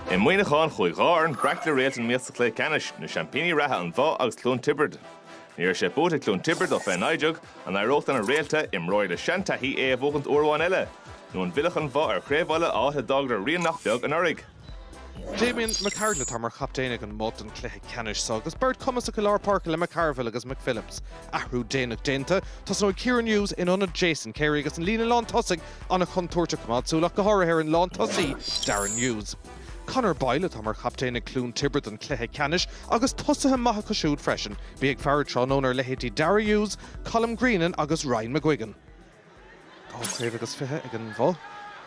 I Muineachán, chuaigh dhá fhoireann breac le réalta in iomaíocht sa chluiche ceannais, na seaimpíní reatha An Bhoth agus Cluain Tiobrad. Ní raibh sé buaite ag Cluain Tiobrad ó fiche naoi déag, an éireodh lena réalta imreoirí le seantaithí é a bhuachaint uair amháin eile? Nó an bhfillfeadh An Bhoth ar Chraobh Uladh áit a d'fhágadar rian nach beag anuraidh? Damien McArdle atá mar chaptaen ag an mBoth don chluiche ceannais so agus beirt cumasach i lár páirce le McCarville agus McPhillips. Athrú déanach déanta, tosnóidh Kieran Hughes in ionad Jason Carey agus an líne lán tosaigh ana chontúirteach coimeád súil amach go háirithe ar an lán tosaí Darren Hughes. Conor Boyle atá mar chaptaen ag Cluain Tiobrad don cluiche ceannais agus tosaithe maithe acu siúd freisin, bí ag faire tráthnóna ar leithéidí Darragh Hughes, Colm Greenan agus Ryan McGuigan. Dhá chraobh agus fiche ag an Bhoth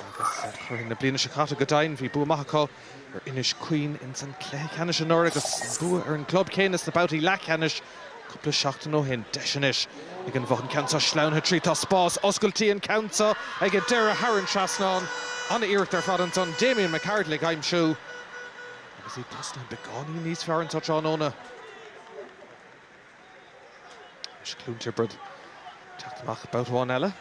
agus curaidh na bliana seo caite go deimhin bhí bua maith acu ar Inis Caoin ins an cluiche ceannais anuraidh agus bua ar an gclub céanna sna babhtaí leathcheannais cúpla seachtain ó shin. Deis anois ag an Bhoth an ceann seo sleamhnaithe tríd. Tá spás oscailte an ceann seo ag an deireadh thar an trasnán. An-iarracht ar fad ansan Damien McArdle ag aimsiú agus iad tosnaithe beagáinín níos fearr anseo tráthnóna. Anois Cluain Tiobrad teacht amach babhta amháin eile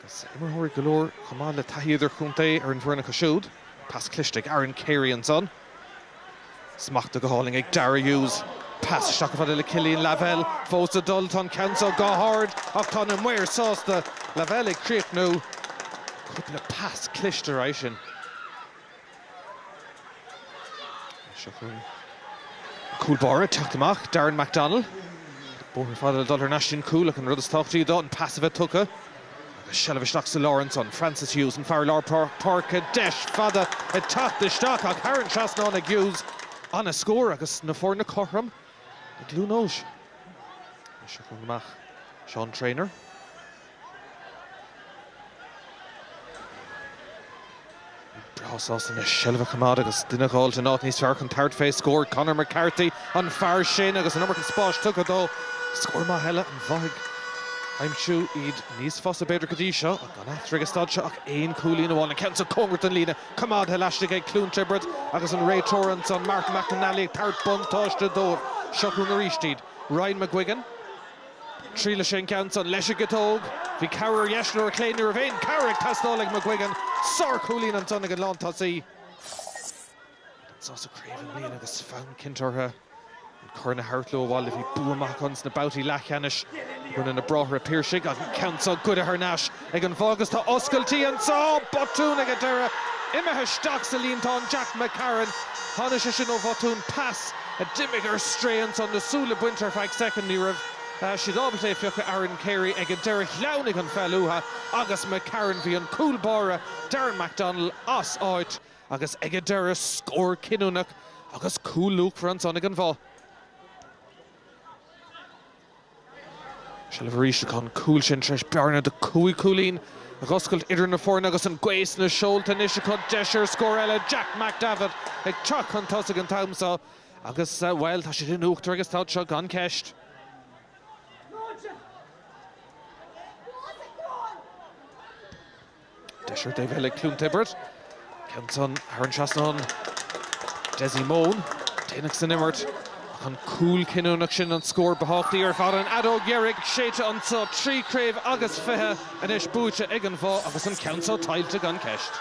agus imreoirí go leor chomh maith le taithí idirchontae ar an bhfoireann acu siúd. Pas cliste ag Aaron Carey ansan. Smachta go hálainn ag Darragh Hughes. Pas isteach chomh fada le Killian Lavelle. Fós ag dul, tá an ceann seo go hard ach tá na maoir sásta. Lavelle ag críochnú. Cúpla pas cliste ar aghaidh sin. Cúl báire teacht amach, Darren McDonnell. Bóthar fada le dul thar n-ais don chúl ach an rud is tábhachtaí dó, an pas a bheith tugtha agus seilbh isteach sa lár ansan. Francis Hughes, an fear lár páirce, deis fada ag teacht isteach ach thar an trasnán ag Hughes. An-scór agus na foirne cothrom i gCluain Eois. Seán Treanor. breá sásta le seilbh a choimeád agus duine a dh'fháilt in áit níos fearr chun tabhairt fé scór. Conor McCarthy an fear sin agus an iomarca spáis tugtha dó. Scór maith eile An Bhoth ag aimsiú iad níos fusa b'fhéidir go dtí seo ach gan eatarthu ag an staid seo ach aon chúilín amháin. An ceann sa cóngarach don líne coimeádtha laistigh ag Cluain Tiobrad agus an réiteoir ansan, Mark McNally ag tabhairt buntáiste dóibh. Seo chugainn arís iad. Ryan McGuigan. Triailfidh sé an ceann san leis an gciotóg. Bhí cabhair ar dheis nó ar a chlé ní raibh aon chabhair ag teastáil ag McGuigan. Sárchúilín ansan ag an lántosaí. Gan sás sa chraobh i mbliana agus fonn cinnte orthu an corn a thabhairt leo abhaile. Bhí bua maith acu sna babhtaí leathcheannais i gcoinne na Bráithre Piarsaigh ach an ceann seo goidithe thar n-ais Ag an Bhoth agus tá oscailtí anseo! Botún ag an deireadh. Imithe isteach sa líontán Jack McCarron. Tháinig sé sin ó bhotún pas a d'imigh ar strae ansan. Na súile bainte ar feadh soicind. Ní raibh siad ábalta é a phiocadh. Aaron Carey ag an deireadh. Shleamhnaigh an pheil uatha agus McCarron. Bhí an cúl báire Darren McDonnell as áit. Agus ag an deireadh scór cinniúnach agus cúl luachmhar ansan ag an Bhoth. Seilbh arís ach an cúl sin tar éis bearna de chúig chúilín a dh'oscailt idir na foirne agus an gaoth sna seolta anois acu. Deis ar scór eile. Jack McDevitt ag teacht chun tosaigh an t-am seo agus, bhuel, tá siad in uachtar ag an staid seo gan cheist. Deis ar an taobh eile ag Cluain Tiobrad. Ceann san thar an trasnán. Dessie Mone déanach san imirt. Ach an cúl cinniúnach sin an scór ba thábhachtaí ar fad. An fheadóg dheiridh séidte anseo. Trí chraobh agus fiche anois buaite ag an Bhoth agus an ceann seo tuillte gan ceist.